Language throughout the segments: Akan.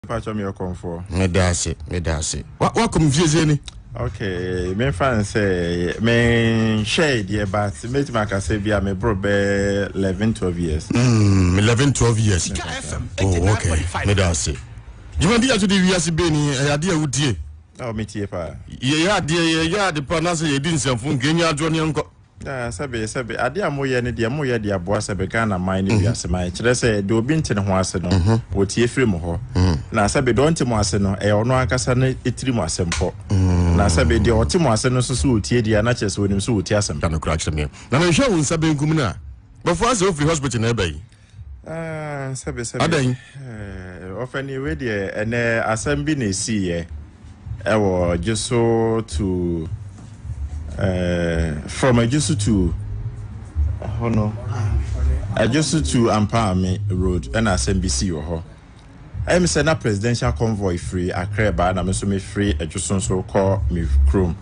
Pacho me okomfo. Me da ase, me da ase. Wa wa kom fie se ni. Okay, me fan se me share die but me ti maka se bia me bro be 11 12 years. Mm, 11 12 years. Oh, okay. Me da ase. Juma dia to de wiase be ni e ade a wutie. Oh, me tie pa. Ye ya de ye ya de pa na se ye di nsɛmfo nkenya adwo ne nkɔ. Yeah, sɛbe sɛbe ade a moyɛ no deɛ moyɛ de aboa sɛbe Ghana man ne mhm. wiase man kyerɛ sɛ de obi nte ne ho ase no mhm. wɔtie firi mo hɔ mhm. na sɛbe deɛ ɔnte mo ase no ɛyɛ ɔno ankasa no ɛtiri mo asɛm pɔ na sɛbe deɛ ɔte mo ase no nso so wɔtie deɛ na kyerɛ sɛ wɔnim so wɔtie asɛm na mehwɛ wo nsa benkum no a bɛfoɔ asɛ wofiri hospital na ɛbɛyi Ah, sɛbe sɛbe. Adɛn? Eh, ɔfɛni wei deɛ ɛnɛ asɛm bi na esiiɛ ɛwɔ gye so tu eh, from agye so tu ɛhɔ no agye so tu ampaame road ɛna asɛm bi sii wɔ hɔ. Ɛyɛ me sɛ na presidential convoy firi Accra reba na me nso mefiri Adwoso nso rekɔ me kurom.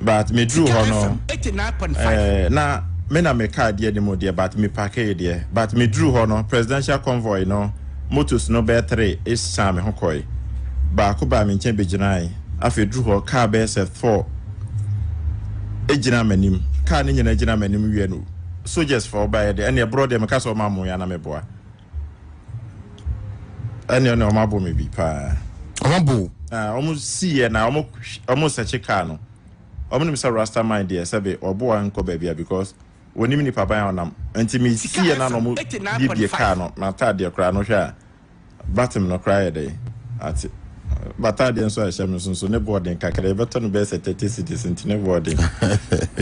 But meduru hɔ no, eh, na me na me car di anim deɛ but me parkee deɛ. But meduru hɔ no, presidential convoy no motos no bɛyɛ three ɛsisaa me ho kɔe. Baako baa me nkyɛn bɛgyinae. Afei duru hɔ, car bɛyɛ sɛ four ɛgyina m'anim. Car no nyinaa gyina m'anim wie no, soldiers fɔ baeɛ deɛ, ɛnneɛ borɔ deɛ meka sɛ ɔma mmoa na meboa. ɛne ɛne ɔmo abo me bi paa ɔmo abo ɔmo si yɛ na ɔmo ɔmo sɛkye kaa no ɔmo nim sɛ rasta man deɛ sɛbe ɔbo a nkɔ baabi a because wɔnim nipa ban a ɔnam nti me si yɛ na na ɔmo biebie kaa no m'ataadeɛ koraa no hwɛ a batem no koraa yɛ dɛ ate bataadeɛ nso a ɛhyɛ me nso nso ne bɔɔden kakra yɛbɛtɔ no bɛyɛ sɛ thirty cedis nti ne bɔɔden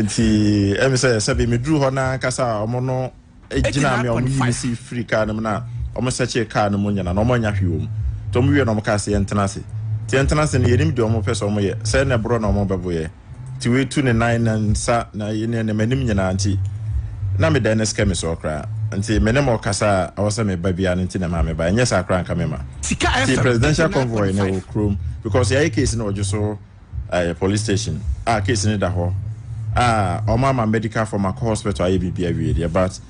nti ɛmi sɛ sɛbe meduru hɔ na ankasa ɔmo no gyinaa me a wɔn yii me si firi car no mu na wɔn sɛkyee car no mu nyina na wɔn annya hwee wɔ mu nti wɔn wie na wɔn kaa sɛ yɛn tena ase nti yɛn tena ase no yɛnim deɛ wɔn pɛ sɛ wɔn yɛ sɛ na ɛborɔ na wɔn bɛbo yɛ nti wei tu ne nan ne nsa na ne ne m'anim nyinaa nti na me dan no sika mi soɔ koraa nti me ne mo kasa a ɛwɔ sɛ me ba biara no nti na ɛma me ba ɛnyɛ saa koraa nka me ma nti presidential convoy na ɛwɔ kurom because yɛayɛ case na ɔgye so Ɛyɛ police station a case no da hɔ a ɔmo ama medical form akɔ hospital ayɛ biribi awie deɛ but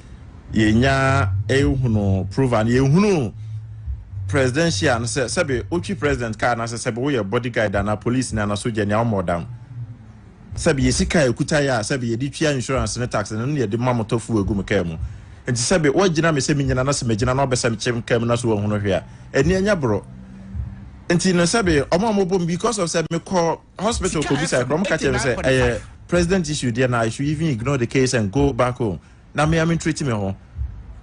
yɛnya ehunu prove and yɛhunu presidential no sɛ sɛbe otwi president car na sɛ sɛbe woyɛ body guide ana police ni ana soja ni a ɔmo ɔdam sɛbe yɛsi car ekuta yɛ a sɛbe yɛde tua insurance ne tax no ne yɛde ma motɔ fuel egu mo car mu nti sɛbe wagyina me sɛ menyina na sɛ megyina na ɔbɛsɛm kyem car mu na so wahunu hwɛ a ɛni anya boro nti no sɛbe ɔmo a ɔmo bom because of sɛ mekɔ hospital kɔ bisa ɛkɔ ɔmo ka kyerɛ me sɛ ɛyɛ president issue deɛ na I should even ignore the case and go back home na me a me treat me ho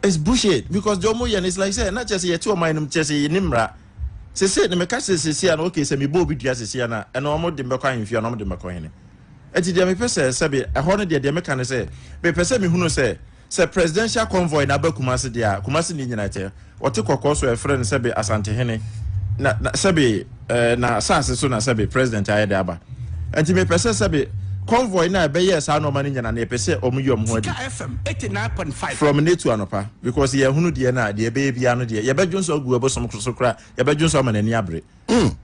it's bullshit because deɛ ɔmo yɛ no it's like sɛ na kyerɛ sɛ yɛte ɔman no mu kyerɛ sɛ yɛni mmara sese na meka sɛ sese a na okay sɛ mebɔ obi dua sese a na ɛna ɔmo de mbɛkɔ ahemfie a na ɔmo de mbɛkɔ hene ɛti deɛ mepɛ sɛ sɛbe ɛhɔ no deɛ deɛ meka ne sɛ mepɛ sɛ mehunu sɛ Sɛ presidential convoy no aba Kumasi deɛ a, Kumasi ni nyina tɛ, wɔte kɔkɔɔ so a ɛfrɛ no sɛbe Asantehene, na, na sɛbe eh, na saase so na sɛbe president ayɛ de aba. Nti mepɛ sɛ sɛbe convoy no a ɛbɛyɛɛ saa nɔɔma no nyina no yɛpɛ sɛ ɔmo yi ɔmo ho adi. Sika FM eighty nine point five. From ne to anɔpa because yɛ hunu deɛ no a deɛ ɛbɛyɛ biara no deɛ yɛbɛdwo nso agu ɛbosom koro so kora yɛbɛdwo nso ama n'ani abere mm.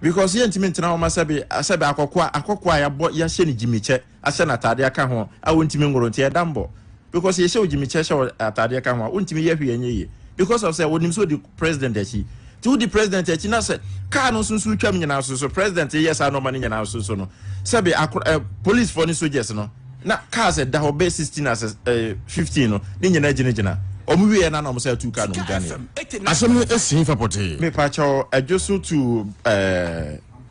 because yɛntumi ntena hɔ ma sɛbe sɛbe akɔkoa akɔkoa yɛabɔ yɛahyɛ ne gyimikyɛ ahyɛ no ataadeɛ aka ho a ɔntumi nworo nti ɛda mbɔ because yɛhyɛ wo gyimikyɛ hyɛ wo ataadeɛ ka ho a wontumi yɛ hwee ɛnyɛ yie because of sɛ wɔnim sɛ ɔdi president akyi nti wodi president akyi na sɛ kaa no nso nso twam nyinaa so so president yɛ saa nɔɔma no nyinaa so so no sɛbe akor eh, policefoɔ ne soldiers no na cars ɛda hɔ bɛ 16 as eh, 15 no ne nyinaa gyinagyina ɔmo wieɛ na na ɔmo sɛ atu kaa no mu dwaneɛ asɛm no ɛsii fa pɔtee mepakyɛw adwo so tu eh,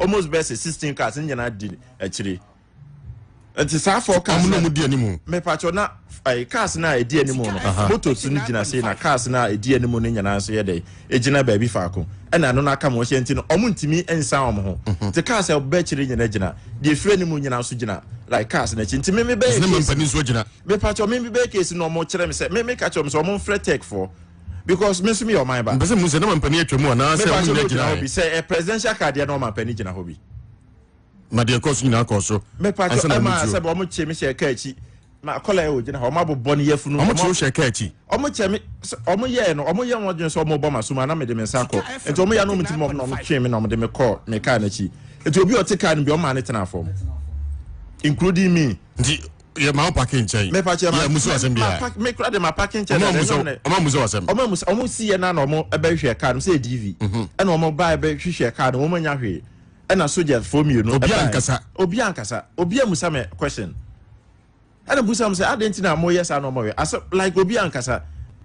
almost bɛyɛ sɛ sixteen cars ne nyinaa di akyire nti saa four cars ɔmo na ɔmo di anim mepatwɔ na ɛɛ eh, cars na ɛdi anim no motos no gyina sei na cars na ɛdi anim no nyinaa nso yɛ dɛ egyina baabi faako ɛna ɛno n'aka mo hyɛ nti no ɔmo ntumi nsan ɔmo ho mhm. te cars a ɔbɛ akyire nyinaa gyina deɛ efiri anim nyinaa nso gyina like cars n'akyi nti mímí bɛyɛ case mepatwɔ mímí bɛyɛ case na ɔmo kyerɛ mi sɛ mímí kakyɛ ɔmo sɛ ɔmo nfrɛ tech fo because me nso meyɛ ɔman ba. mpɛsɛ mu sɛ na mampani atwa mu anaa sɛ ɔmo nyɛ gyina hɔ bi sɛ ɛ presidential card yɛ na ɔmampani gyina hɔ bi. ma deɛ ɛkɔɔ so nyinaa kɔɔ so. mepa kyɛ ɛma sɛ bɛ ɔmo kye me hyɛ ɛka akyi ma akɔla yɛ ogyina hɔ ɔmo abobɔ ne yafunu ɔmo kye hyɛ ɛka akyi ɔmo kyɛ me ɔmo yɛ no ɔmo yɛ wɔn adwene sɛ ɔmo bɔ ma so ma na mede me nsa kɔ nti ɔmo yɛ no ɔmo ti mu ɔmo na ɔmo twe me na ɔmo de me kɔ me kaa n'akyi nti obi ɔte kaa no bi ɔmo maa ne tena fam including me. nti yɛ maa ɔpaki nkyɛn. mɛ pakyɛ ma yɛ musu asɛm bi a. mɛ kura de ma paki nkyɛn na ɛnyɛ ɔmɛ. ɔmɔ musu asɛm. ɔmɔ musu ɔmɔ si yɛ na na ɔmɔ ɛbɛ hwɛ kaa no sɛ edv. ɛna ɔmɔ ba ɛbɛ hwehwɛ kaa no ɔmɔ nya hwee ɛna soja fo mmienu. obi ankasa obi ankasa obi amusa mɛ question ɛna busa mo sɛ adan ti na mo yɛ saa na ɔmɔ yɛ asɛ like obi ankasa.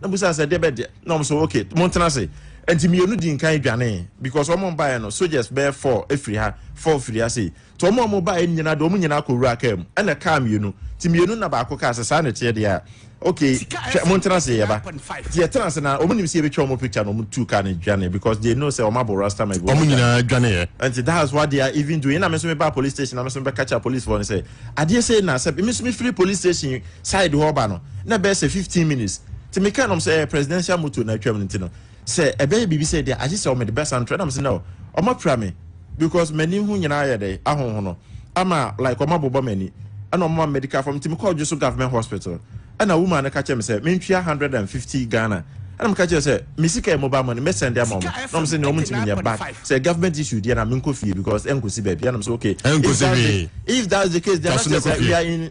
na bisa sɛ deɛ bɛ deɛ na wɔn so okay mo ntena ase nti mmienu di nkan dwanee because wɔn baeɛ no soldiers bɛyɛ four efiri ha four firi ha sei nti wɔn a wɔn baeɛ no nyinaa deɛ wɔn nyinaa kɔ wura kaa mu ɛna kaa mmienu nti mmienu na baako kaa sɛ saa na ɛteɛ deɛ a okay hwɛ mo ntena ase yɛba nti yɛtena ase na wɔn nim sɛ yɛbɛtwa wɔn picture na wɔn tu kaa no dwanee because they know sɛ wɔn abɔ rasta ma ebi wɔn wɔn dwanee nyinaa dwaneeɛ nti that's what they are even doing na me nso meba police station na me nso mebɛka kyerɛ policefoɔ no sɛ adeɛ sei na sɛ me nso mefiri police station side hɔ ba no na ɛbɛyɛ sɛ fifteen minutes nti me kaa nom sɛ ɛyɛ presidential motor na atwam no nti no sɛ ɛbɛyɛ biribi sɛ deɛ agye sɛ ɔmede bɛsa ntorɛ nam sɛ no ɔma pira me because m'ani ho nyinaa yɛ dɛ ahohono ama like ɔma bobɔ m'ani ɛna ɔma medical form nti mekɔɔ dwo so government hospital ɛna woman no ka kyerɛ me sɛ mentwia hundred and fifty Ghana ɛna meka kyerɛ sɛ me sika yɛ mobile money mɛsɛnde ama ɔmo na ɔmo sɛ ne ɔmo ntumi nyɛ but sɛ government issue deɛ na menkɔ fie because ɛnkɔsi baabi ɛna ɔmo sɛ okay if that's the if that's the case deɛ na kyerɛ sɛ we are in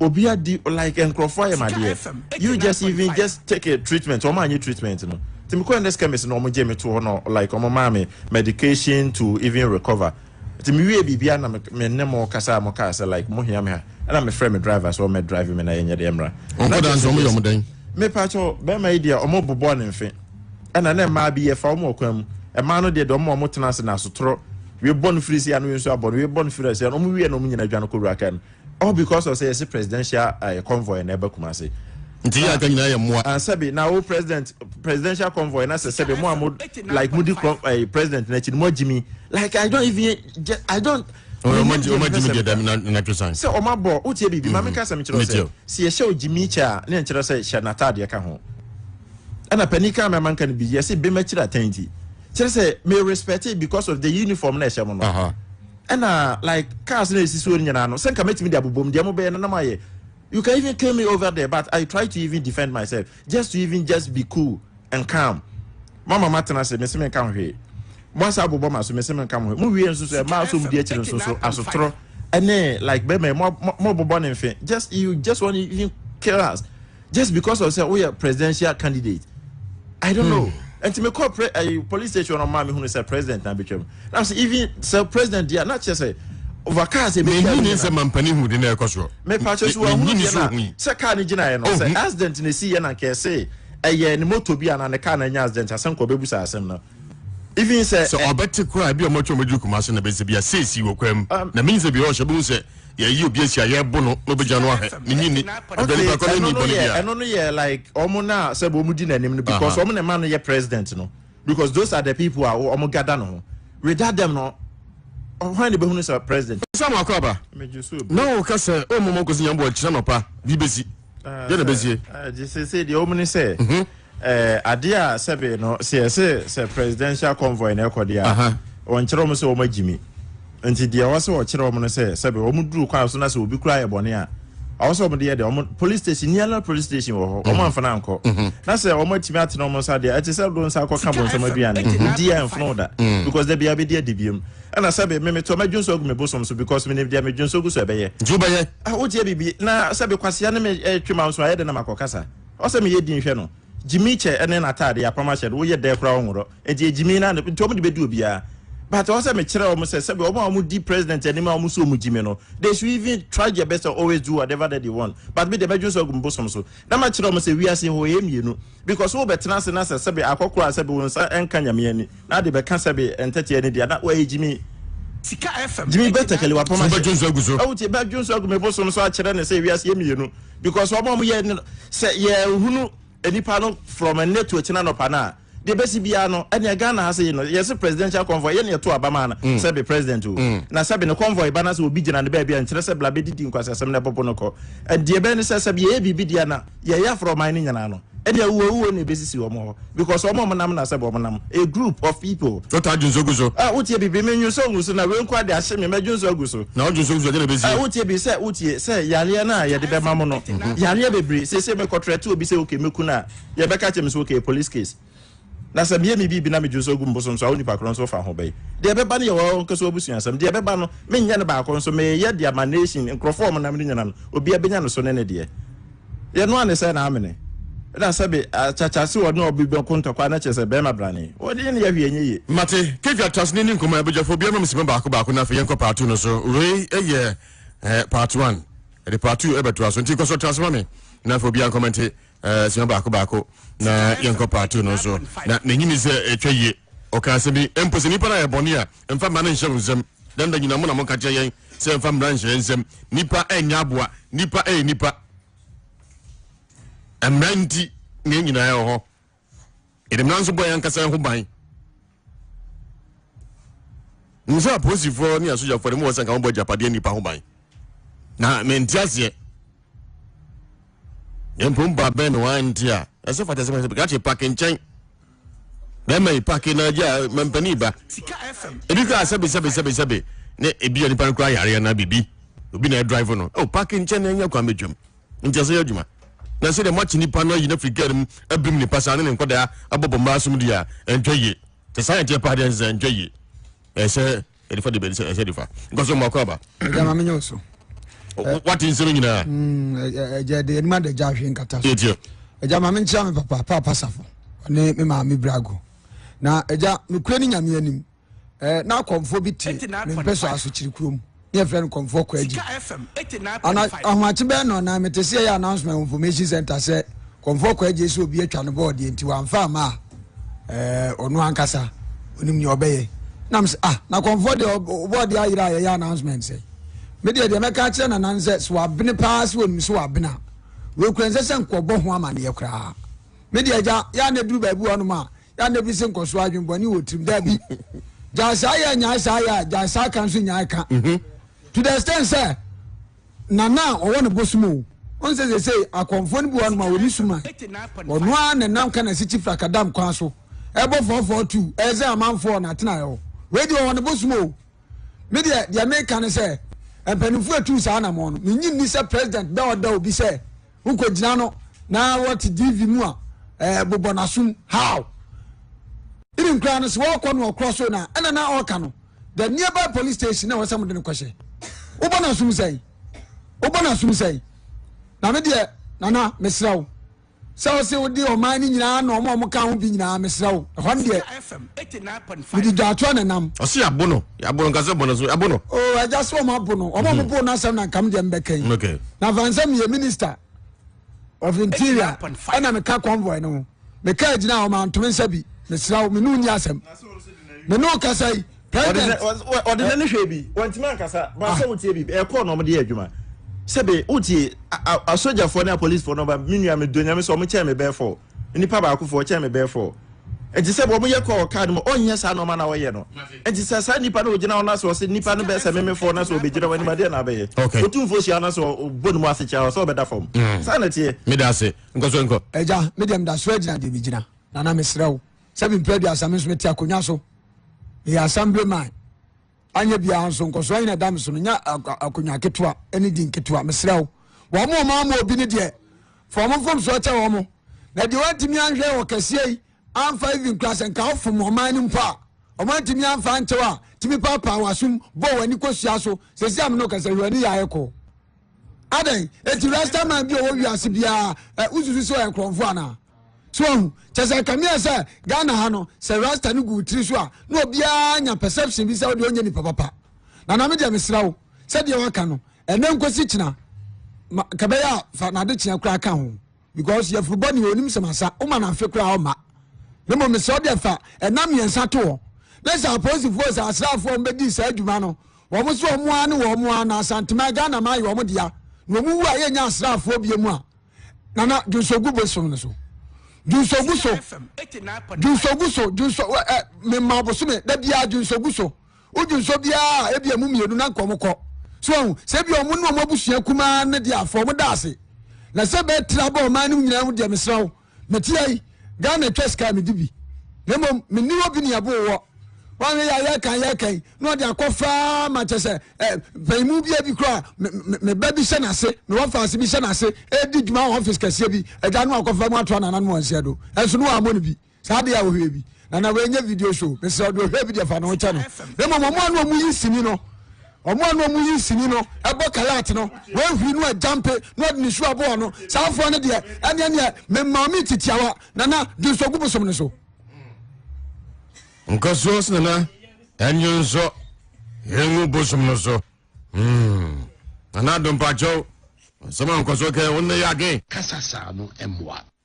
Obi adi like nkurɔfoɔ ayɛ madeɛ you just even just take a treatment wɔn anyɛ treatment no ti mi kɔ ɛnɛ skɛmis na wɔn gye mi to hɔ na like wɔn maa mi medication to even recover ti mi wie biribi ana mi ne mo kasa a mo kaa sɛ like mo hia mi ha ɛna mi frɛ mi driver sɛ ɔmɛ drive mi na yɛ nyɛ deɛ mra. ɔnkɔ dansi wɔn yɛ wɔn dɛn. mepakyɛ bɛrima yi deɛ wɔn bobɔ ne mfe ɛna ne mmaa bi yɛ fa wɔn ɔkwan mu mmaa no deɛ deɛ wɔn a wɔn tena ase na asotoro. webɔ no firi si ano nso abɔ no webɔ no firi asi ano ɔmo wie na ɔmo nyina adwa no kɔwura kaa mu All because of say yɛse presidential uh, convoy na ɛba Kumase. Nti yɛ aka nyinaa yɛ mmoa. Ah, sɛbi na wo president presidential convoy na sɛ sɛbi mo a mo like mo di kɔ eh, president n'akyi no mo agyimi like I don't even I don't. Ɔma ɔma gyimi deɛ dɛm na na twesan. Sɛ ɔma bɔ o tie biribi maame mhm. kasa mi kyerɛ sɛ si ɛhyɛ o gyimi kyɛ a ne nkyerɛ sɛ hyɛ n'ataadeɛ ka ho ɛna panin kan mɛma nka no bi yɛsi bɛma kyerɛ atɛn ti kyerɛ sɛ me respect because of the uniform na ɛhyɛ mo no. Ɛna like cars na esisi hɔ no nyinaa no, sɛ nka mɛtumi de abobom deɛ mo bɛyɛ no na mo ayɛ. You can even kill me over there but I try to even defend myself just to even just be cool and calm. Mama matena ase mese menka ho hwee. Moasa abobɔ ma so mese menka mo hwee. Mo wie nso so ɛma asom di akyiri nso so asotorɔ ɛne like bɛma mo mo bobɔ ne mfe just you just want to even kill us. just because of sɛ woyɛ presidential candidate i don't know ɛnti hmm. mekɔ pre ɛyi eh, police station no maa mehunu sɛ president na betwam na sɛ even sɛ president deɛ na kyerɛ sɛ ova kaa sɛ ebi tia mi na sɛ mampanin hu de na ɛkɔ soɔ mepatwa so wahunu deɛ na sɛ kaa ne gyina yɛ no sɛ accident na esi yɛ na nkɛse ɛyɛ ne moto bi a na ne kaa na nya accident asɛm kɔ bɛbu sa asɛm no even sɛ sɛ eh, ɔbɛte koraa ebi a ɔmɔtwe ɔmɔduru kumase na bɛsɛ bia seesi wɔ kwaa mu Um, na menim sɛ bia ɔhyɛ bɛhu sɛ yɛyi obi asi a yɛbo no na ɔbɛgya no ahwɛ ne nyini aduane okay, baako no ɛno nni no bɔne yɛ bia ɛno no yɛ like ɔmo na sɛ ɔmo di n'anim no because aha ɔmo na ɛma no yɛ president no because those are the people a ɔmo gada no ho without them no ɔhwan na ebehunu sɛ president sɛ mo akɔ aba megye so na obi ɔka sɛ ɔmmɔ mɔ nkɔsi nyamboɔ nkyerɛ nɔpa bi bɛsi deɛ na bɛsie ɛɛ ɛɛ gye sɛ sɛ deɛ ɔmo ne sɛ Eh, adeɛ a sɛbe no sɛ yɛse sɛ presidential convoy na ɛkɔ deɛ a Aha. wɔnkyerɛ wɔn sɛ wɔn agyi mi nti deɛ ɛwɔ sɛ wɔkyerɛ wɔn no sɛ sɛbe wɔn duru kwan so na sɛ obi kura yɛ bɔne a ɔwɔ sɛ wɔn de yɛ deɛ wɔn police station nearly police station wɔ hɔ wɔn mhm. amfana ankɔ mhm. na sɛ wɔn atumi atena wɔn nsa deɛ ɛte sɛ do nsa akɔ ka bɔ nsɛm aduane mhm. di a ɛnfono da because dabi abɛdi adi biem ɛna sɛbe meme tɔ mɛdwo nso agu me bosom so because menim deɛ medwo nso gu so ɛbɛyɛ nti wobɛyɛ ah, wotie biribi na sɛbe kwasea ne me eh, twema nso ayɛ dɛ na makɔ kasa Ɔsɛ meyɛ din hwɛ no. Gyimii kyɛ ne n'atadeɛ apam ahyɛ no woyɛ dɛɛ koraa ɔnworɔ ɛnti yɛ gyimii na nti ɔmo de bɛdi obiara but ɔsɛ mekyerɛ ɔmo sɛ sɛbi ɔmo a ɔmo di president anim a ɔmo sɛ ɔmo gyimi no they should even try their best to always do whatever that they want but me deɛ mɛdwene so agu me bosom so na makyerɛ ɔmo sɛ wiase hɔ yɛ mmienu because wo bɛtena ase na sɛ sɛbi akɔkorɔ a sɛbi wo nsa ɛnka nyame ani na ade bɛka sɛbi ɛntɛteɛ ne deɛ na wɔyɛ gyimii gyimii bɛtɛkɛli wapam ahyɛ ɛwotie bɛdwene so agu me bosom so akyerɛ ne sɛ wiase yɛ mmienu. because wɔn a wɔyɛ no sɛ yɛhunu nipa no from ɛnɛ to akyina nɔpa no a deɛ bɛsi biara no ɛnea ghana ha sɛ yi no yɛse presidential convoy yɛ ne yɛto aba ma no mm. sɛbe president o mm. na sɛbe ne convoy ba no sɛ obi gyina no baabi a nkyerɛ sɛ bla bɛdidi nkwasasɛm no ɛbɔbo no kɔ ɛdeɛ bɛɛ ne sɛ sɛbe yɛyɛ biribi deɛ na yɛyɛ aforɔ ɔman no nyinaa no Ɛde awuo awuo na ɛbɛsisi wɔn hɔ because wɔn a wɔnam no asɛ wɔn nam, a group of people. So taa dwonso gu so. Ah wotie bi bi me nwonso ngu so na wei nko ara de ahye me mɛdwonso agu so. Na wo dwonso gu so a deɛ na ɛbɛsie. Ah wotie bi sɛ wotie sɛ yareɛ no a yɛde bɛma mo no yareɛ bebree seesei mekɔtrɛte obi sɛ okay mɛku no a yɛbɛka kyerɛ me sɛ okay police case. Na sɛ meyɛ me biribi na megye so agu me bosom so a, wo nnipa korɔ nso fa ho bɛn? Deɛ ɛbɛba no yɛ wɔn ankasa abusua asɛm. Deɛ ɛbɛba no, menyɛ no baako nso, mereyɛ de ama nation, nkurɔfoɔ a wɔnam no nyinaa no, obiara bɛnya ne so ne ne deɛ. Deɛ ɛno ara ne sɛ na amene. Ɛna sɛbe, akyakya se wɔne obi bɛko ntɔkwa na kyerɛ sɛ barima brane. Wɔde ne yɛ hwee ɛnyɛ yie. Mate, Kefi Atraseni ne nkɔmmɔ, abadwafoɔ obiara mma me sima baako baako na afei yɛnkɔ part two no so. Wei yɛ part one, yɛde part two bɛtoa so nti kɔ so tra ase ma me na afei obiara nkɔmɛnte Eh, sua baako baako na yɛnkɔ paatu no so na n'enyi mi sɛ ɛtwa yie ɔka ase bi mpo sɛ nipa no ayɛ bɔne a mfa mmara no nhyɛ wo nsam dɛn da nyina mo na moka kyerɛ yɛn sɛ mfa mmara nhyɛ yɛn nsam nipa ɛnyɛ aboa nipa ɛyɛ nipa mmara nti ne nyinaa ɛwɔ hɔ yɛde mmara nso bɔ yɛn ankasa ho ban nim sɛ apolisifoɔ ne asogyafoɔ no mu wɔ sɛ nka wɔbɔ agyapadeɛ nnipa ho ban na mente aseɛ yɛmpom ba bɛn na wante a ɛsɛ fata sɛ sɛ kakye pake nkyɛn bɛma yi pake na agya mampani ba ebi kora sɛbesɛbesɛbesɛbe ne ebi a nipa no kora yareɛ na biribi obi na ɛdrive no o pake nkyɛn na ɛnyɛ kwan bɛtwam ntease yɛ adwuma. Na sɛdeɛ moate nipa no ayi no afiri kar mu abirim ne pasaa ne ne nkwadaa abɔ bɔ mmaa som deɛ a, ɛnhwɛ yie. Sɛ saa na ɛteɛ paa deɛ ɛnsɛ sɛ ɛnhwɛ yie. Ɛsɛ sɛ yɛde fa deɛ bɛde sɛ ɛsɛ de fa. Nkɔ so mmoa kɔ aba. Agya ma menyɛ wo so. Wate nsɛm nyinaa. Agya de anim adagya ahwe nkata so. Tiɛ. Agya ma menkyea me papa, Paapa Safo, ɔne me maame Brago. Na agya, mekura ne nyame anim. eh, na akɔmfoɔ bi te me mpɛ so asokyere kurom ne yɛfrɛ no kɔmfoɔ kɔ agyi ana ahomakye bɛɛ no na mete sɛ yɛyɛ announcement wɔ information center sɛ kɔmfoɔ kɔ agyi sɛ obi atwa no bɔɔ deɛ nti wamfa ama a eh, ɔno ankasa ɔnim nea ɔbɛyɛ nam sɛ ah na kɔmfoɔ deɛ ɔbɔɔ deɛ ayerɛ a yɛyɛ announcement sɛ medeɛ deɛ mɛka akyerɛ nanan sɛ sɛ wabene paa sɛ wɔnim sɛ wabene a wɔkura nsɛ sɛ nkɔbɔ ho amanneɛ koraa medeɛ agya yɛ a na ɛduru baabi hɔ nom a yɛ na bi se nkɔ so adwene bɔne wɔ tirim daabi gyae saa yɛ nyae saa yɛ a gyae saa ka nso nyae ka mhm. to the extent sɛ nana a ɔwɔ ne bosom o ɔn sɛ sɛ sɛ akɔmfoɔ no bi wɔ nom a wɔne suma ɔno a ne nam ka na si kyi frakadam kwan so ɛbɔ fɔɔfɔɔ tu ɛyɛ sɛ amanfoɔ na atena ɛwɔ wei deɛ ɔwɔ ne bosom o me deɛ deɛ meka ne sɛ mpanimfoɔ atu saa anamɔ no menyi nni sɛ president bɛ ɔda obi sɛ Wo kɔ gyina no na wɔ te DV mu a ɛɛ bobɔ na sum how? Even kura no se wɔ kɔ no ɔkorɔ so na ɛna na ɔka no the nearby police station na wɔsɛ mo de no kɔ hyɛ. Wo bɔ na sum sɛn? Wo bɔ na sum sɛn? Na me deɛ nana mesrɛ wo sɛ ɔse wo de ɔman no nyinaa na ɔmo ɔmo ka ho bi nyinaa mesrɛ wo ɛhɔ no deɛ mede dwaatoa na nam. Ɔse yɛabo no yabo no nka sɛ bɔ no so yabo no. o oh, ɛgya sɛ ɔmo abo no ɔmo ɔmo mhm. bo no asɛm na nkam deɛ mbɛka yi mm, na fansɛ meyɛ minister of interior ɛna meka convoy no ho meka agyina a ɔma ntome nsa bi mesra wo mene wonni asɛm mene wo kasa yi president ɔde nɛ ne hwɛ bi wɔntimi ankasa basɛ ah. wotie bi ɛkɔɔ na ɔmode yɛ adwuma sɛbe wotie asogyafoɔ ne apolicefoɔ no ba me nua medɔ nyame sɛ ɔmo kyɛɛ me bɛɛfɔɔ nipa baako fɔ ɔkyɛn me bɛyɛ fɔ nti sɛ wɔn yɛ kɔ ɔkaa no mu ɔnyɛ saa nɔɔma na ɔyɛ no nti sɛ saa nipa no ogyina ɔno asɛ ɔsɛ nipa no bɛyɛ sɛ meme fɔ na sɛ ɔbɛgyina wɔn anim adeɛ na abɛyɛ okay otu mfo hyia na sɛ ɔbɔ ne mu ase kyɛ ɔsɛ ɔbɛda fam mm. saa na teɛ. meda ase nkɔ so nkɔ. ɛgya me deɛ meda so agyina deɛ megyina nana mesrɛ wo sɛ mempɛ aduasa me nso mete akonnwa so meyɛ asambere man Anyɛ biara nso, nkɔsoɔ ayi na ɛda me so no, nya akonnwa ketewa ne din ketewa. Mesrɛ wo, wɔn a wɔn ama obi no deɛ, fa wɔn mfomsoɔ kyɛ wɔn. Na deɛ wɔantumi anhwɛ wɔ kɛseɛ yi, amfa even kura sɛ nka wofom ɔman no mpo a, wɔn antumi amfa ankyɛw a, tumi paapaa w'asom, bɔ w'ani kɔsua so. Sɛsi a me ne wo kasa yi, hwɛ w'ani yɛ ayɛ kɔɔ. adɛn eti rasta man bi a ɔwɔ wiase biara ɛ wosusu sɛ ɔyɛ nkorɔmfo anaa so ɔhu kyɛ sɛ kame yɛ sɛ ghana ha no sɛ rasta no gu tiri so a na obiara nya perception bi sɛ wodeɛ ɔnyɛ nipa papa na na me deɛ mesra wo sɛdeɛ waka no ɛnɛ nkosi kyena kɛbɛyɛ a fa nade kyea koraa ka ho because yɛfiri bɔ neɛ onim sɛm asa woma no afe koraa ɔma na mmom mesɛ wode fa ɛna mmiɛnsa to hɔ ne sɛ apolisifoɔ sɛ asraafoɔ mbɛdii saa adwuma no wɔn so wɔn ara ne wɔn ara na asantema ghana ma ayɛ wɔn dea na wɔn wu a yɛnyɛ asraafoɔ bie mu a nana dwonsogu bosom no so dwonsogu so dwonsogu so dwonso ɛ mema bosome da biara dwonsogu so Wodwi nso biara a ebi emu mmienu na nkɔm kɔ. So wɔn sɛ ebi wɔn ne wɔn abusua kumaa ne deɛ afɔ wɔn da ase. Na sɛ bɛɛ tiri abɔ ɔman no nyinaa ho deɛ mesra wo. Mete ha yi, Ghana atwa sika a medi bi. Na mmom menni hɔ bi ne ɛbo wɔ. Wɔahwɛ yɛ a yɛka yɛka yi na ɔde akɔ faa ma kyɛ sɛ eh, mpanyinmu bi bi koraa me, me, me ba bi hyɛ n'ase, me wɔfaase bi hyɛ n'ase, edi dwuma wɔ ɔfis kɛseɛ bi, agya no akɔfa mu ato anananom wɔn nsa do. Ɛnso no wɔammɔ no bi. saa deɛ a ohwɛ bi na na wɔnyɛ video show mesrɛ ɔde ohwɛ bi deɛ fa ne ho kyɛ no na mmom ɔmo a na ɔmo yi sini no ɔmo a na ɔmo yi sini no ɛbɔ kalat no wɔahuri no agyampe na ɔde ne su aboa no saa afoɔ no deɛ ɛneɛ neɛ mema me titiawa nana dwonso gu bosom no so nkɔsoɔ sɛ nana ɛnwonso yɛngu bosom no so hmm. nana dompakyɛw nsɛm a nkɔsoɔ kɛ wo nnɛ yɛ adwen kasa saa no mmoa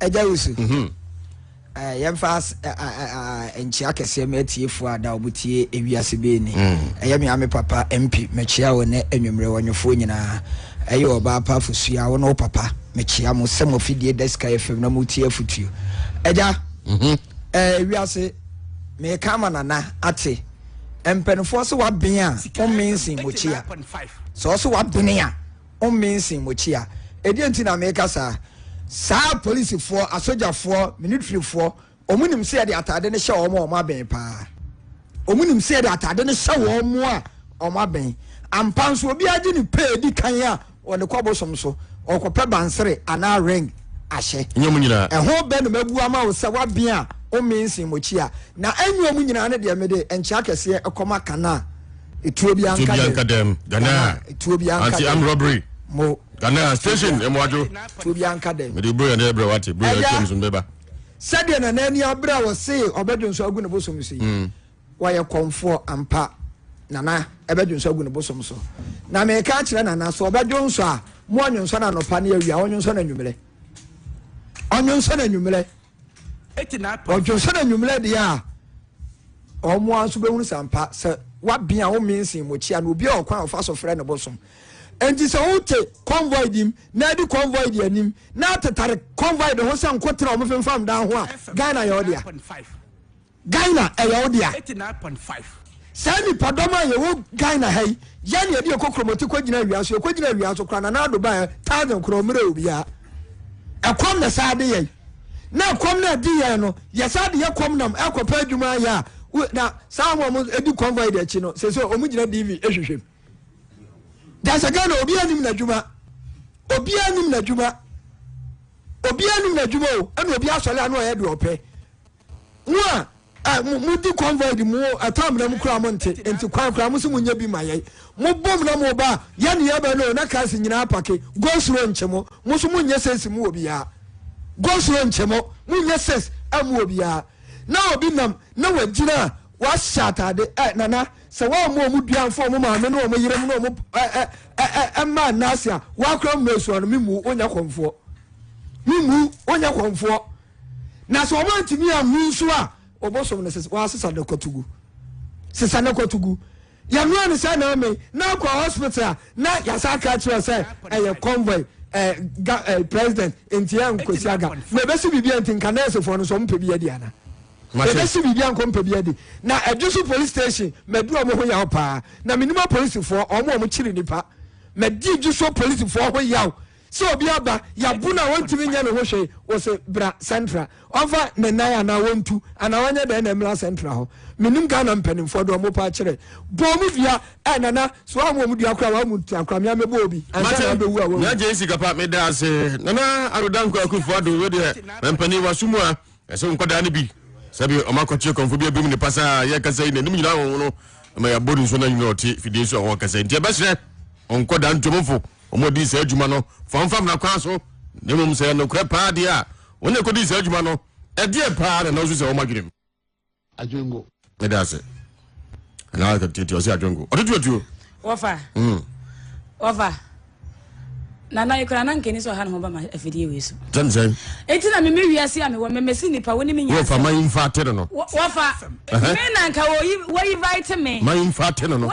ɛgya wusu mhm. eh, yɛmfa eh, eh, nkyia kɛseɛ ma atiefoɔ a da ɔmo tie ewiase bɛɛ ni mm. ɛyɛ me ame papa mpi mekyia wo ne anwummerɛ wɔnwofoɔ nyinaa ɛyɛ ɔbaa pa afosua wo ne wo papa mekyia mo sɛ mo afidie da sika yɛ fam na motie afotuo ɛgya mhm. ewiase meka ama nana ate mpanimfoɔ sɛ waben a ɔmensen mokyia sɛ ɔsɛ wabene a Ommensen Mokyia. Ɛdeɛn nti na meka saa? Saa apolisifoɔ, asogyafoɔ, minitirifoɔ, wɔn nim sɛ yɛde ataade no hyɛ wɔn a wɔn abɛn paa. Wɔn nim sɛ yɛde ataade no hyɛ wɔn a wɔn abɛn. Ampa nso, obiara gye ne pɛ di kan a wɔde kɔ bosom so, ɔkɔpɛ bansere anaa ring ahyɛ. Nyɛ wɔn nyinaa. Ɛho bɛ na mabu ama wo sɛ w'abea a Ommensen Mokyia. Na ɛnyɛ wɔn nyinaa ne deɛ mede nkyea kɛseɛ kɔma Kanaa. etuo bi anka dɛm anka dɛm ganaa etuo bi anka dɛm anti am robbery mo ganaa station emu adwo etuo bi anka dɛm mede bro yɛn dɛ brɛ wate bro yɛn twɛm so mbɛba sɛdeɛ na n'ani abere a wɔse ɔbɛdwo nso agu ne bosom so yi mm. wɔyɛ kɔmfoɔ ampa nana ɛbɛdwo nso agu ne bosom so na meka akyerɛ nana so ɔbɛdwo nso a mo ɔnwo nso no anɔpa ne awia ɔnwo nso no anwummerɛ ɔnwo nso no anwummerɛ ɔdwonso no anwummerɛ deɛ a wɔn ara nso bɛhunu sampa sɛ wabea a wɔmee nsen mmokyia no obi a ɔkwan a ɔfa so frɛ no bosom nti sɛ wote convoy bi mu na adi convoy di anim na atetare convoy de ho sɛ nkotena wɔn femfam dan ho a ghana yɛ ɔdea Ghana ɛyɛ wo dea. eighty nine point five. Saa nnipadɔm a yɛwɔ Ghana ha yi, yɛn deɛ ɛde ɛkɔ kuromɔte kɔgyina awia so, yɛkɔgyina awia so koraa Nana Addo baeɛ thousand koraa ɔmmerɛ obiara. Ɛkɔm na saa de yɛn na ɛkɔm na ɛde yɛn no yɛsaa de yɛ kɔm nam ɛkɔpɛ adwuma ayɛ a na saa wɔn a wɔdi convoy de akyi no sɛ sɛ wɔn gyina DV ɛhwehwɛ mu. Gyasa Ghana obiara nim n'adwuma obiara nim n'adwuma obiara nim n'adwuma o ɛna obi asɔre ano ɔyɛ deɛ ɔpɛ. Mo a eh, mo, mo di convoy di mo ɛtaa mena mo kura mo nte, nti kwan kura mo se mo nyɛ bi ma yɛn. Mo bom na mo ba, yɛ ne yɛ bɛ no, na cars nyinaa apake. Go slow nkye mo, mo nso mo nyɛ sense mo wɔ biara. Go slow nkye mo, mo nyɛ sense eh, mo wɔ biara. Na obi nam, na wa gyina a, wa hyɛ atade eh, nana, sɛ wa mo ɔmo dua nfa ɔmo maame ne ɔmo yere mo ne ɔmo eh, eh, eh, eh, eh, mma nna ase a, wa kura mo mɛsua no, me mmu, o nyɛ kɔnfoɔ. Me mmu, o nyɛ kɔnfoɔ. Na sɛ ɔmo antumi anwu nso a, obosom no sesa, wɔasesa no kwatugu. Sesa no kwatugu. Yɛnoa no sɛ na amee, na akɔ hospital a, na yɛasa aka akyerɛ sɛ ɛyɛ convoy eh, ga, eh, president, nti yɛ nkosi aga. Na ebesi biribi a nti nka nɛɛsefoɔ no nso ɔmo pɛ bi adi ana? Mate. Ebesi biribi a nka ɔmo pɛ bi adi. Na Adwosu police station, madu ɔmo ho yaw paa. Na menim apolisifoɔ, ɔmo a ɔmo kyere nnipa. Madi Adwosuo polisifoɔ ho yaw. Sɛ obi aba yabu no a ɔntumi nyɛ ne ho hwee, wɔse bra central ɔmfa ne nan anaa ɔntu anaa ɔnyɛ dɛn na mmra central hɔ. Menim Ghana mpanimfoɔ deɛ wɔpɛ akyerɛ. Bɔ wɔn dua, eh nana, sɛ wɔammu wɔn dua koraa wɔammu ntua koraa, me ara mɛbɔ obi ansa na abɛwu a wɔawu. Nyagye sikapa meda ase. Nana Ado Dankwa Akufo Ado wei deɛ mampanin waso mu a ɛsɛ wo nkwadaa no bi sɛbi ɔma kɔkye kɔmfo bi abim ne pasaa yɛ kasa yi n'anim nyinaa wɔn no ma yɛabɔ ne nso na nyina ɔte fidie so a wɔn kasa nti ɛbɛhyerɛ ɔnkɔda ntomfo wɔdii saa adwuma no famfam na kwan so na mmom sɛ nokorɛ paa deɛ a wɔn a ɛkɔdii saa adwuma no ɛdeɛ paa na na ɔsu sɛ wɔn adwenem adwengo ɛda ase na tete ɔsɛ adwengo ɔde tuatuo wɔfa hmm. wɔfa nana yi kura nanka ni sɛ ɔha ne ho ba ma afidie wei so sɛnsɛn eti na meme wiase a mewɔ memesi nnipa wo ne me nyina wɔfa ma yi mfa ate no no wɔfa me nanka wɔyi wɔyi vaite me ma yi mfa ate no no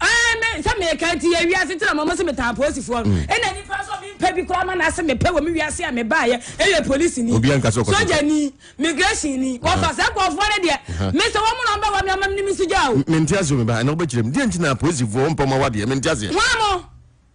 Ɛɛ me sɛ meka nti yɛ wiase tena mɔmɔ sɛ metaa apolisifoɔ no. Mm. Ɛna nipa nso me mpɛ bi koraa ma n'ase mepɛ wɔ me wiase a mebaeɛ ɛyɛ polisi ni. Obiara nka sɛ ɔkɔ sogya ni, migration ni, wɔfa sɛ nkurɔfoɔ no deɛ. Me sɛ wɔn mu na ɔbɛ wɔ me ama me ne me sogya o. Mente aseɛ o me ba ɛna wobɛkyerɛ mu. Deɛ nti na apolisifoɔ mpɛ wɔn awadeɛ mente aseɛ. Wɔn mo.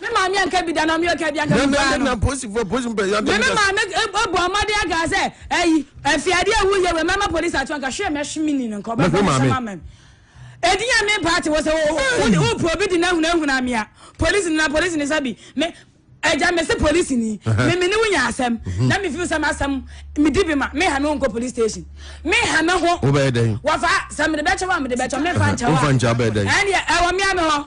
Me maame anka bi da na ɔmeɛ ɔka bi anka bi paa no. Na polisifoɔ polisi mpɛ yadɛ. Me me maame ɛbɔ ɔmɔden aka sɛ ɛyi ɛfiade ewu yɛ wɛ mɛma polisi ato anka hwɛ mɛhwe mi ni no nka ɔbɛfɔ mi sɛm amɛm. Edinya me ba te wɔ sɛ wo wo pro bi di na huna huna mia polisi na polisi ni sabi me ɛgya me se polisi ni me me ne wo nya asɛm mhm. na me fi sɛ masɛm me di bi ma me ha me nko police station me ha me ho. Wo bɛ dɛn. Wafa sɛ me de bɛkyɛ wa me de bɛkyɛ me fa nkyɛ wa. Wo fa nkyɛ bɛ dɛn. Ɛni ɛwɔ mia me hɔ.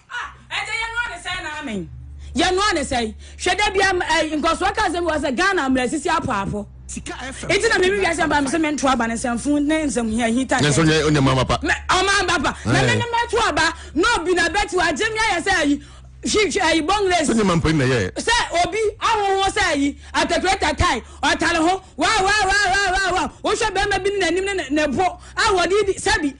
Ah ɛnkyɛ yɛnoa ne sɛn na amen yɛnoa ne sɛn hwɛ da bia ɛyi nkɔsoɔ ka nsɛm bi wɔ sɛ Ghana mmerɛ sisi apo apo nti na mimi wiase mba mesɛ mento aba ne nsɛmfo ne nsɛm hia hita sɛ nanso nyɛ onyɛ mama pa ɔma mba pa na eh. mene mɛto aba na obi na bɛti wɔ agye me ayɛ sɛ ayi hwehwɛ ayi bɔngres sɛ nyɛma mpa na yɛ sɛ obi ahoho sɛ ayi atakurata tae ɔtare ho waa waa waa waa waa wohwɛ bɛrima bi ne n'anim ne ne bo a wɔde di sɛbi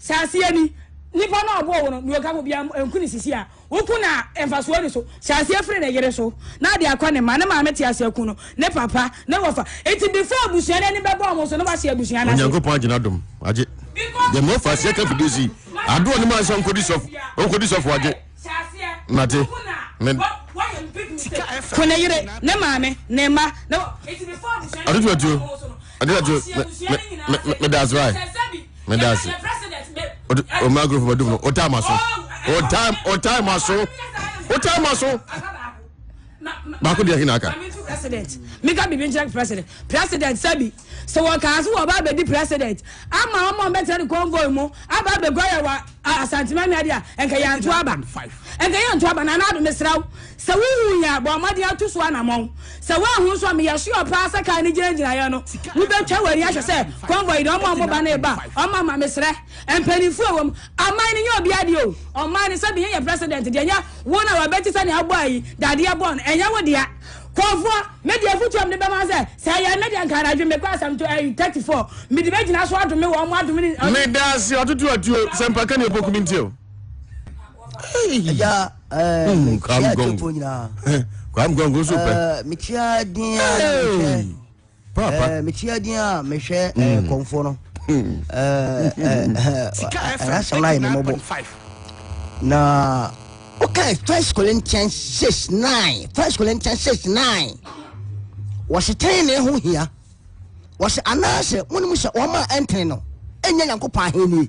Sɛ aseɛ ni, nipa no a ɔbɔɔ wo no, deɛ ɔka ho biara nku no sisi a woku no a mfasoɔ ni so. Sɛ aseɛ firi ne yere so na ade akɔ ne mma, ne maame te aseɛ ku no, ne papa, ne wɔfa. Enti before abusua no ani bɛbɔ wɔn so no wɔahye abusua no ase. Onyankopɔn agye n'adom agye. Deɛ mɔfa aseɛ ka fidie si adoɔ ne mansa nkɔdi sɔfo, ɔnkɔdi sɔfo agye. Nate. Ne. Ku ne yere, ne maame, ne mma, ne wɔ. Enti before abusua no ani bɛbɔ wɔn so no. ɛdɛ ɛdɛ mɛ mɛ daasi wa mɛ daasi o de o maa gorofa dum no o taa ma so o taa o taa ma so o taa ma so baako deɛ hinna aka. mika bibi nkyɛn president president sɛbi sɛ wɔn kaa so wɔn ba abɛdi president ama wɔn a wɔn bɛtɛ ne convoy mu aba abɛgua yɛ wa. Ah Asantema nua deɛ a nka yɛanto aba nka yɛnto aba Nana Ado mesrɛ wo sɛ wohu yɛn a bɔ mmɔden atu so anamɔn sɛ woanhu nso a meyɛ sure paa sɛ kaa no gyinagyinaeɛ no wobɛtwa w'ani ahwɛ sɛ convoy deɛ ɔma ɔmo ba no reba ɔma ma mesrɛ mpanimfoɔ a wɔm aman no nyɛ obiara deɛ o ɔman no sɛbi yɛn yɛ president deɛ nyɛ wo na wabɛti sɛnea abɔ ayi dadeɛ bɔn ɛnyɛ wo dea Kɔfoɔ, me deɛ afutuo a mede bɛma wo sɛ, sɛ ɛyɛ me deɛ nka anadwo mekɔ asɛm to ɛyi thirty four, mede bɛgyina so adome wɔn, wɔn adome ne. Meda ase ɔtoto atuo sɛ mpaka ne opoku mi nti o. Ɛgya ɛɛ mekyia atuo nyinaa. Kwam gɔngɔn so pɛ. Mekyia din a mekyia. paapa. Eh, meti adin a mehwɛ eh, mm. kɔnfoɔ no ɛnasɛm no ayɛ memɔbɔ na okay first corinthians 6 9 first corinthians 6 9 wɔse tenene ho hia wɔse anaasɛ monom sɛ wɔma ɛntene no ɛnyɛ nyankopɔn ahennie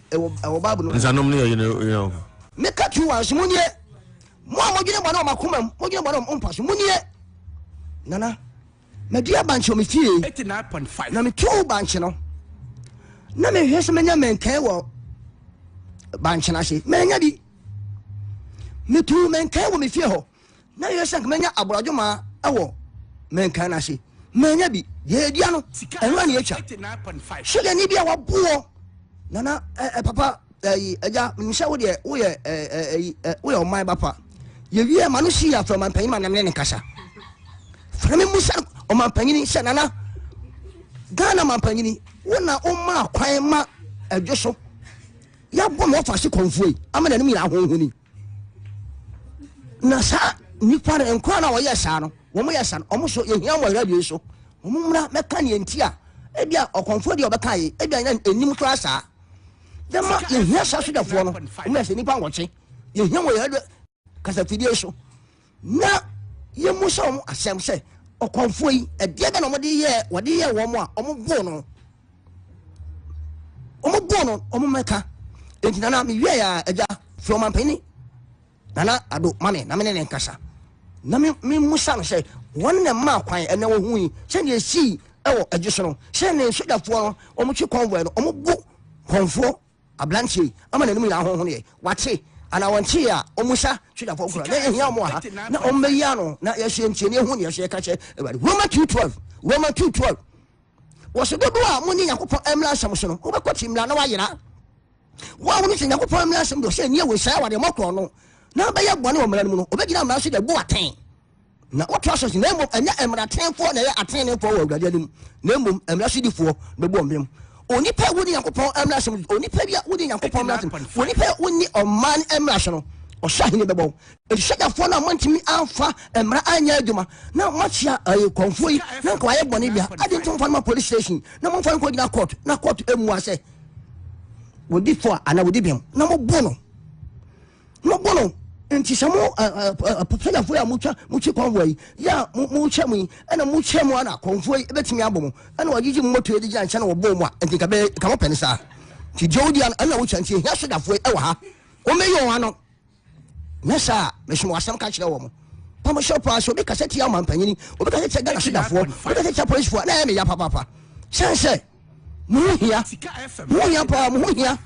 ɛwɔ bible no nsanom ne ɔyere yere ɔko meka tu wa nso monie mo a modwene bɔne wɔ makoma mu modwene bɔne wɔ mpa so monie nana madua bankye wɔ me fie na metuu bankye no na mehwɛ sɛ menya mɛnkɛn wɔ bankye no ase manya bi metuu mɛnkɛn wɔ me fie hɔ na yɛ sɛ mɛnya aborɔdwoma wɔ mɛnkan no ase mɛnya bi deɛ ɛdua no ɛno ane atwa so deɛ ne bi a waboɔ nana ɛ, ɛ, papa ɛyi ɛgya menim sɛ wodeɛ woyɛ ɛyi woyɛ ɔman ba pa yɛwie ma no si yɛ afrɛ ɔmanpanyin ma namene ne kasa frɛ me mu sɛ ɔmanpanyini sɛ nana ghana mampanyini wo na woma kwan ma ɛdwo so yɛabɔ ma wɔfa se kɔmfoe ama nanom nyina ahohoni na saa nipa no nkora na wɔyɛ saa no wɔn yɛ saa no wɔn so yɛhia wɔn radio so wɔn mmra mɛka nea nti a ebi a ɔkɔnfo deɛ ɔbɛka yi ebi a yɛn anim koraa saa dɛma yɛhia saa sogyafoɔ no wɔn yɛ sɛ nipa nwɔkye yɛhia wɔn radio kasafidie so. Na yɛmmisa wɔn asɛm sɛ, Ɔkɔmfoɔ yi, ɛdeɛ bɛ na wɔde yɛɛ wɔde yɛɛ wɔn a wɔboo no wɔboo no wɔmmɛka enti nana mewia yɛ a agya fi wɔn ampanyini nana ado ma me na me ne ne nkasa na memusa no sɛ wɔn na mmaa kwan ɛna wɔhu yi sɛdeɛ ɛsii ɛwɔ agye so no sɛ ne sogyafoɔ no wɔn twe kɔnvoɛ no wɔn bu kɔnfoɔ Aberanteɛ yi, ama n'anim nyinaa honhonoeɛ. Wate, anaa wɔntee a, ɔmmisa Twidapɔn koraa. Na yɛhia wɔn wɔ ha, na wɔmmɛyi ano, na yɛhwɛ ntie, na yɛhu deɛ ɛsɛ yɛka kyerɛ Awurade. Roma 2:12, Roma 2:12, Wɔse, Dodoɔ a monni Nyankopɔn mmra nsɛm so no, mobɛkɔ te mmra na wɔayera. Wo a wone te Nyankopɔn mmra nsɛm deɛ ɔsɛ nni awe saa wɔ deɛ mokorɔ no, na bɛyɛ bɔne wɔ mmra no mu no, ɔbɛgyina mmra so de abu wo atɛn. Na ɔtoa so se, na mmom ɛnyɛ mmaratenefoɔ na ɛyɛ ateneneefoɔ wɔ Awurade anim, na mmom mmara sodifoɔ bɛbu wɔn bem. Onipa a wonni Nyankopɔn mmara so no, onipa bi a wonni Nyankopɔn mmara so no, onipa a wonni ɔman mmara so no, ɔsahene bɛbɔ wo. Enti sogyafoɔ no a moantumi amfa mmara anyɛ adwuma na moakyea ɛɛ kɔmfoɔ yi na nka wayɛ bɔne bi a, adɛn nti momfa no ma police station na momfa no nkɔgyina court na court mmua sɛ wɔdi fɔ a anaa wɔdi bem na mobo no. Mo bo no nti sɛ mo panyafo yi a motwa motwi kɔnvoa yi yɛ a mokyɛ mo yi ɛna mokyɛ mo ana kɔnvoa yi ɛbɛtumi abɔ mo ɛna wɔgyegye mo moto ɛde gyina nkyɛn na wɔbɔ mo a nti nka bɛyɛ nka mopɛ ne saa nti deɛ wodi ano ɛna wotwa nti ɛhia sodafo yi ɛwɔ ha wɔmɛyɛ wɔn ano nyɛ saa mesom asɛm ka kyerɛ wɔ mo pamo hyɛ paa sɛ obi kasa tia ɔmampanyini obi kasa tia ghana sodafoɔ obi kasa tia policefoɔ na ɛyɛ meya papapa sɛn sɛ mo ho hia mo ho hia paa mo ho hia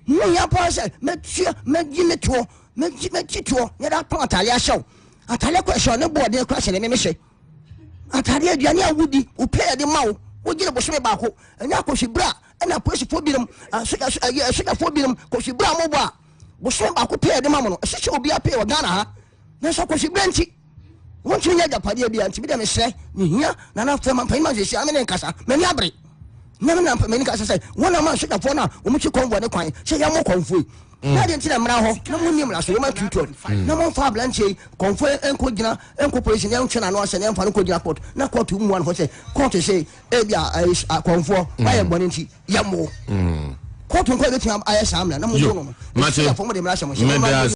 mo ho hia paa sɛ mɛtua mɛgye me toɔ mɛgye mɛgye toɔ yɛde atɔn atadeɛ ahyɛ wo atadeɛ kɔ ɛhyɛ ne boɔden kɔ ɛhyɛ ne meme hyɛ atadeɛ aduane a wodi wopɛ yɛde ma wo wogye ne bosome baako ɛnyɛ akɔhwe berɛ a ɛna apolisifoɔ binom asogyafoɔ binom kɔhwe berɛ a mobɔ a bosome baako pɛ yɛde ma mo no ɛhyehyɛ obiara pɛ wɔ ghana ha nanso akɔhweberɛ nti wontumi nyɛ agyapadeɛ bia nti bidɛ mesrɛ mehia nana fɛ ma mpanyima nhwehwɛ ame ne nkasa m'ani abere na mena mpamani kasa sɛ wɔn a ma asogyafoɔ no a wɔmukyi kɔnvoɔ ne kwan sɛ yɛmmɔ kɔnfoɔ yi mm. na adeɛ nti na mmara hɔ na monni mmara so wɔma tutuɔ mm. na momfa aberanteɛ yi kɔnfoɔ ɛnkɔ gyina ɛnkɔ polisi ne ɛntwe n'ano asɛ ne ɛmfa no kɔ gyina court na court mmua no hɔ sɛ court sɛ ebi a kɔnfoɔ mm. wayɛ bɔne nti yɛmmo court nkɔ yɛbɛtumi ayɛ saa mmara na mommo no no mede mmara hyɛ mo hyɛ